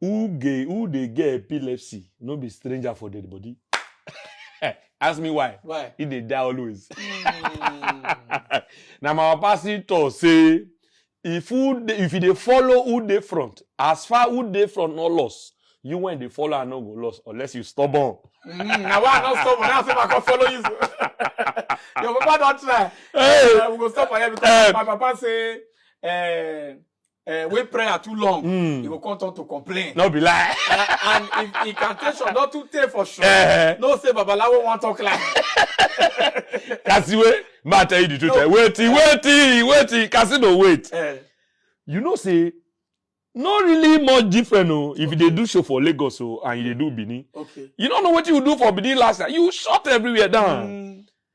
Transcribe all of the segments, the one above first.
Who gay, who dey get epilepsy no be stranger for dead body. Ask me why. Why? He dey die always. Mm. Na my papa still talk say if who dey, if you dey follow who dey front, as far who dey front no loss, you when dey follow am no go loss unless you stubborn. Mm, na why I no stop when I say I come follow you. Your papa don try. Hey, Uh, we go stop for here because Eh. my papa say uh, uh, when prayer too long, mm. he will come turn to complain. No be lie. uh, and if incantation not too take for sure, uh-huh. no say Babalawo won't talk like. Kasiwe, ma tell you the truth. No. Eh? Wait, uh, wait, wait, Kasi no wait. Uh, you know say, no really much different o oh, if okay. you do show for Lagos o oh, and you dey do Benin. Okay. You don't know what you do for Benin last night. You shut everywhere down. Mm.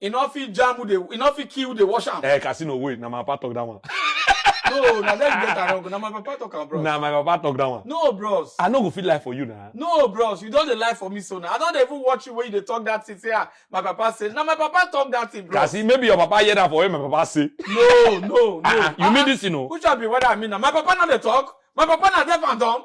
E no fit jam who dey, e no fit kill who dey wash am. Eh, Casino wey, na my papa talk that one. No, na there you get am wrong. Na my papa talk am, bros. Na my papa talk that one. No, bros. I no go fit lie for you na. No, bros. You don dey lie for me so na. I don dey even watch you when you dey talk that thing say, ah, my papa say. Na my papa talk that thing, bros. Cassie, maybe your papa hear that for when my papa say. No, no, no. Ah, ah, you mean this thing o? Which one be what I mean na? My papa no dey talk? My papa na deaf and dumb?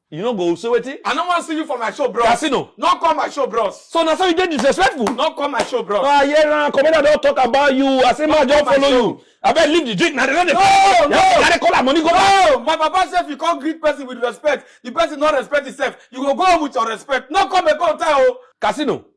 You no go say wetin? I no wan see you for my show bros. Casino. No come my show bros. So na so you dey disrespectful? No come my show bros. Ah yeah na commander don talk about you. I say ma just follow you. Abeg leave the drink na the dey. No no. Na dey call am money go back. No my papa say if you come greet person with respect the person no respect himself you go go home with your respect. No come again tie o. Casino.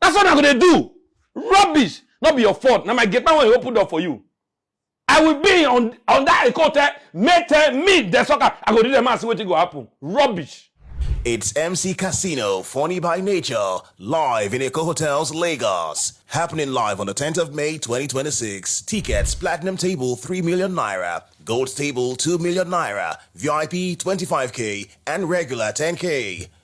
That's what I go dey do. Rubbish. No be your fault. Na my gate man wey open door for you. I will be on on that Ekote, Mete, me, the soccer. I go do them and see what go happen. Rubbish. It's MC Casino, funny by nature, live in Eco Hotels, Lagos. Happening live on the 10th of May 2026. Tickets Platinum Table 3 million naira, Gold Table 2 million naira, VIP 25k, and regular 10k.